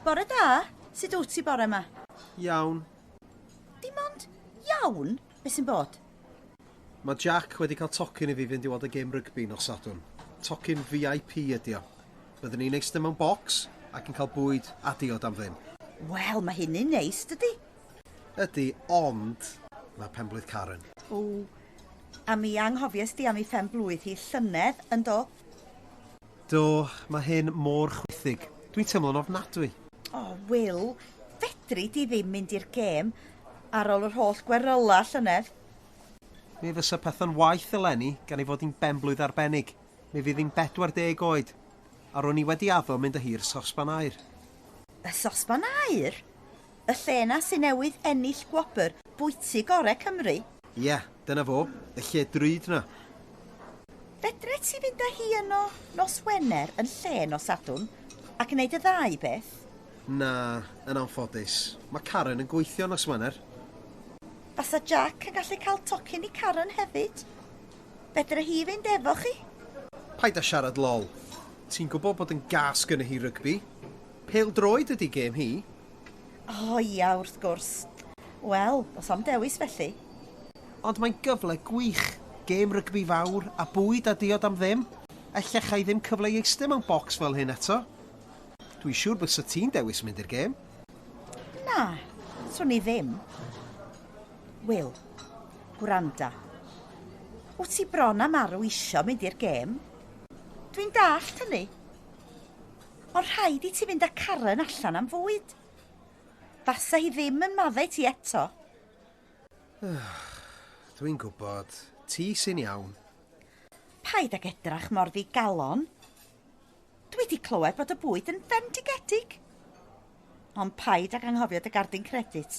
Bore da! Sut wt ti bore ma? Iawn. Dim ond iawn? Be sy'n bod? Mae Jack wedi cael tocyn i fi fynd i weld y gêm rygbi nos Sadwrn. Tocyn VIP ydi o. Byddwn ni'n eistedd mewn bocs ac yn cael bwyd a diod am ddim. Wel, mae hynny'n neis, dydi? Ydi, ond mae penblwydd Karen. O, a mi anghofies di am ei phen-blwydd hi llynedd, yn do? Do, mae hyn mor chwithig. Dwi'n teimlo'n ofnadwy. O, Wil, fedri di ddim mynd i'r gêm ar ol yr holl gweryla llynedd. Mi fysa pethau'n waeth eleni gan ei fod hi'n benblwydd arbennig. Mi fydd hi'n 40 oed, a ro'n i wedi addo mynd â hi i'r sosban aer. Y sosban aer? Y lle 'na sy newydd ennill gwobr bwyty gore Cymru? Ia, dyna fo, y lle drud 'na. Fedre ti fynd â hi yno nos Wener yn lle nos Sadwrn ac neud y ddau beth? Na, yn anffodus. Mae Karen yn gweithio nos Wener. Fasa Jac yn gallu cael tocyn i Karen hefyd? Fedre hi fynd efo chi? Paid â siarad lol. Ti'n gwybod bod yn gas gynna hi rygbi. Pêl-droed ydi gêm hi. O ia, wrth gwrs. Wel, does na'm dewis felly. Ond mae'n gyfle gwych. Gêm rygbi fawr, a bwyd a diod am ddim. Ella chai ddim cyfle i eistedd mewn bocs fel hyn eto. Dwi'n siŵr bysa ti'n dewis mynd i'r gêm. Na, swn i ddim. Wil, gwranda. Wyt ti bron a marw isio mynd i'r gêm? Dwi'n dallt hynny. Ond rhaid i ti fynd â Karen allan am fwyd. Fasa hi ddim yn maddau ti eto. Dwi'n gwybod. Ti sy'n iawn. Paid ag edrach mor ddigalon. Dwi wedi clywed bod y bwyd yn fendigedig. Ond paid ag anghofio dy gardyn credit.